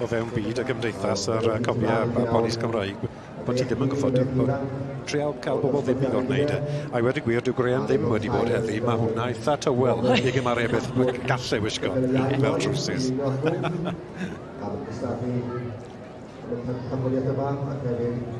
o fewn byd y gymdeithas a'r cofiau a polis Cymraeg bod ti ddim yn gwybod trial cael bobl ddim i ddod wneud e. A i wedi gwir, dyw Graham ddim wedi bod heddi. Mae hwnna eitha tywel i gymaru beth gallai wisgo fel trwsus. Ar y cystadlu, y pencampwriaeth yma, ac hefyd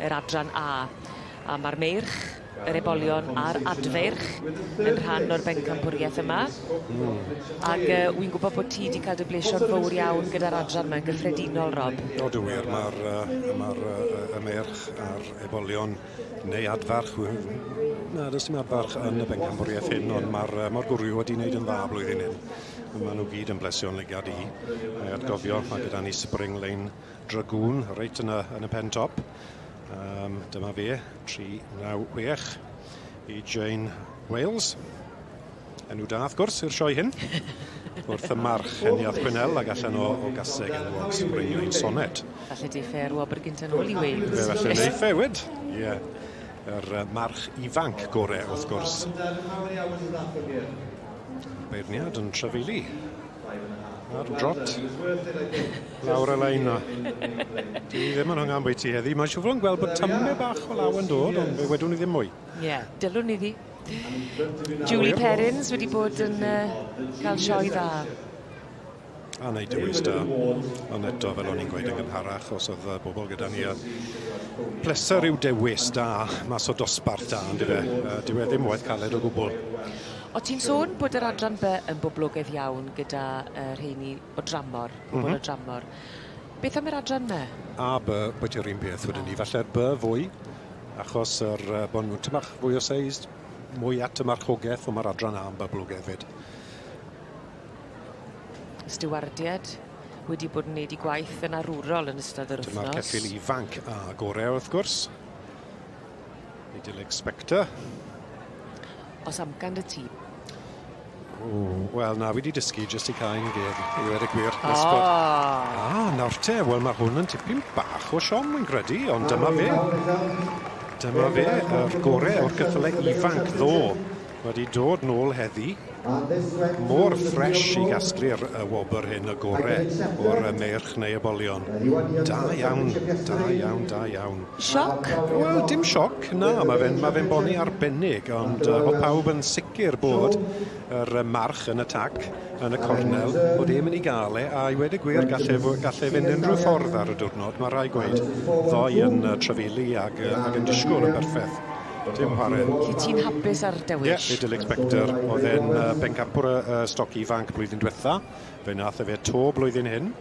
yr Adran A, a ma'r meirch, yr ebolion a'r adfeirch yn rhan o'r bencampwriaeth yma. Mm. Ac yy wi'n gwybod bod ti 'di cael dy blesio'n fowr iawn gyda'r adran yma yn gyffredinol, Rob. O, dw wir, ma'r yy ma'r yy y meirch a'r ebolion neu adfarch wi- na, does dim adfarch yn y bencampwriaeth hyn, ond ma'r yy ma'r gwryw wedi wneud yn dda blwyddyn hyn. Ma' nhw gyd yn blesio'n llygad i, a'i atgofio, ma' gyda ni spring lane Dragoon reit yna yn y pen top. Um, dyma fe, 396 i Jane Wales. Enw da, wrth gwrs, i'r sioe hyn. Wrth y march yn iath Chwynel ac allan o, o gaseg yn wag sbrinio i'n sonet. Falle di ffer wobr gynta'n ôl i Wales. Fe falle neu ffe, wyd. Ie. Yeah. Yr uh, march ifanc gore, wrth gwrs. Beirniad yn trafeili. Ar drot. Lawr y lein na. Dwi ddim yn hynga am bwyty heddi. Mae'n siwfro yn gweld bod tymme bach o law yn dod, ond fe wedwn i ddim mwy. Ie, yeah, dylwn i ddi. Julie Perrins wedi bod yn uh, cael sioe dda. A wneud dewis da. Ond eto, fel o'n i'n gweud yn gynharach, os oedd uh, bobl gyda ni, a pleser yw dewis da mas o dosbarth da, ynddo fe. Uh, dyw e ddim waith caled o gwbl. O ti'n sôn bod yr adran by yn boblogaidd iawn gyda uh, rheini o dramor, mhm. pobl mm -hmm. o dramor. Beth am yr adran my? A by, bod yr un peth wedyn ni. Falle'r by fwy, achos yr, uh, bod nhw'n tymach fwy o seis, mwy at y marchogaeth, ond mae'r adran A yn boblogaidd fyd. Stewardiad wedi bod yn neud i gwaith yn arwrol yn ystod yr wythnos. Dyma'r ceffil ifanc a gorau wrth gwrs. Middle Inspector. Os amcan dy ti. Wel, na, wedi dysgu jyst i cael un geg i wedi gwir. Oh. Nesbod. Ah, nawr te, wel mae hwn yn tipyn bach o siom, yn credu, ond dyma fe. Dyma fe, yr gore o'r cyffyle ifanc ddo. Mae 'di dod nôl heddi. Mor fresh i gasglu'r yy wobr hyn y gore o'r yy merch neu y bolion. Da iawn, da iawn, da iawn. Sioc? Wel dim sioc, na ma' fe'n ma' fe'n boni arbennig ond yy o'dd pawb yn sicr bod yr yy march yn y tac yn y cornel bod e myn' i ga'l e a i weud y gwir gall e fo- gall e fynd unrhyw ffordd ar y diwrnod ma' rhai' gweud ddoe yn yy trafeilu ag yy ag yn disgwl yn berffeth. Dim chware. Lle ti'n hapus ar Dewis? Ie, Idyllic Spectre. Oedd e'n uh, bencampwr y uh, stoc ifanc blwyddyn diwetha. Fe nath e fe to blwyddyn hyn.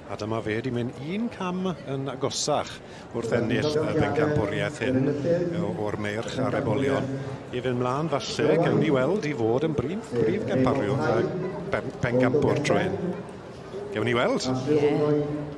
A dyma fe wedi mynd un cam yn agosach wrth ennill y bencampwriaeth hyn o'r meirch ar ebolion. I fynd mlaen falle, gawn ni weld i fod yn brif, brif gampario y pencampwr trwy hyn. Gawn ni weld. Yeah.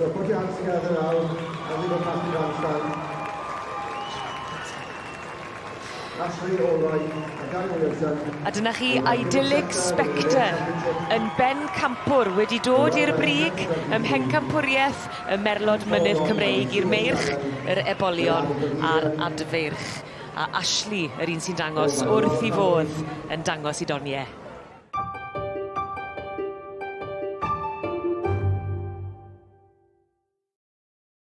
So put your hands together now and leave a past your handstand. Ashley Allroyd a Gary Williamson. A dyna chi idyllic spectre yn ben campwr wedi dod i'r brig ym mhencampwriaeth y merlod mynydd Cymreig i'r meirch, yr ebolion a'r adfeirch. A Ashley, yr un sy'n dangos wrth i fodd yn dangos i Donie.